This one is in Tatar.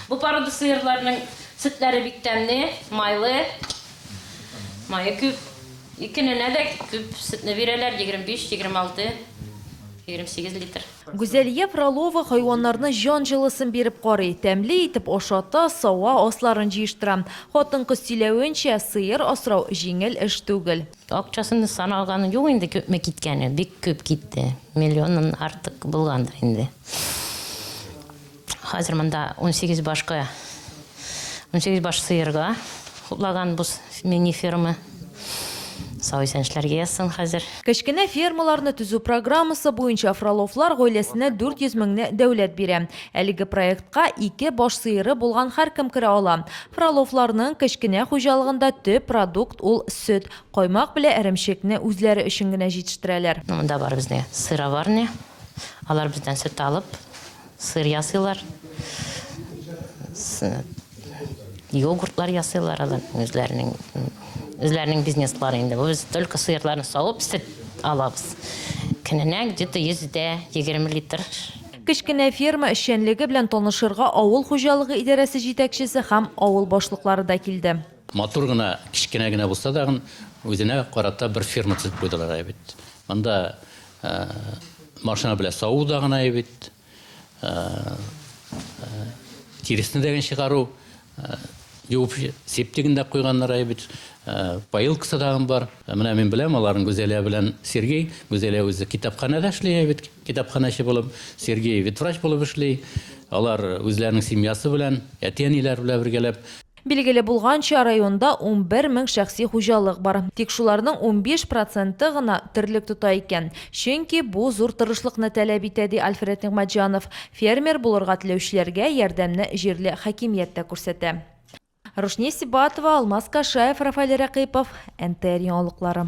Бу порода сыерларның сөтләре бик тәмле, майлы, мае күп. Ике ненә дә күп сөтне бирәләр, 25, 26, 28 литр. Гүзәлия Фролова хайваннарны җан җылысын биреп карый, тәмле итеп ашата, сава, асларын җыештыра. Хатын-кыз сөйләвенчә, сыер асрау җиңел эш түгел. Акчасын саналганы юк инде, күпме киткәне, бик күп китте. Миллионнан артык булгандыр инде. Хәзер монда унсигез башкы, унсигез баш сыерга хуплаган бу мини-ферма. Сау-исәнчләргә язсын хәзер. Кечкенә фермаларны төзү программасы буенча Фроловлар гаиләсенә 400 меңне дәүләт бирә. Әлеге проектка ике баш сыеры булган һәркем керә ала. Фроловларның кечкенә хуҗалыгында төп продукт ул сөт, каймак белә эремчекне үзләре өчен генә җитештерәләр. Монда бар безнең сыроварня. Алар бездән сөт алып, сыр ясыйлар. Йогуртлар ясыйлар алар үзләренең үзләренең бизнеслары инде. Без только сыерларны савып, сөт алабыз. Көненә где-то 100 дә 20 литр Кечкенә ферма эшчәнлеге белән танышырга авыл хуҗалыгы идарәсе җитәкчесе һәм авыл башлыклары да килде. Матур гына, кечкенә генә булса тагын, үзенә карата бер ферма төзеп куйдылар бит. Монда Машина белән саву да гына бит. Тиресне дә чыгару юып септигендә куйганнар бит. Поилкасы да бар. Менә мин беләм, аларның Гүзәлия белән Сергей. Гүзәлия үзе китапханәдә эшли бит, китапханәче булып. Сергей ветврач булып эшли. Алар үзләренең семьясы белән, әти-әниләре белән бергәләп. Билгеле булганча, районда унбер мең шәхси хуҗалык бар. Тик шуларның унбиш проценты гына терлек тота икән. Чөнки бу зур тырышлыкны таләп итә, ди Альфред Нигъмәтҗанов. Фермер булырга теләүчеләргә ярдәмне җирле хакимият тә күрсәтә. Рушния Сибатова, Алмаз Кашаев, Рафаэль Рәкыйпов, НТР яңалыклары.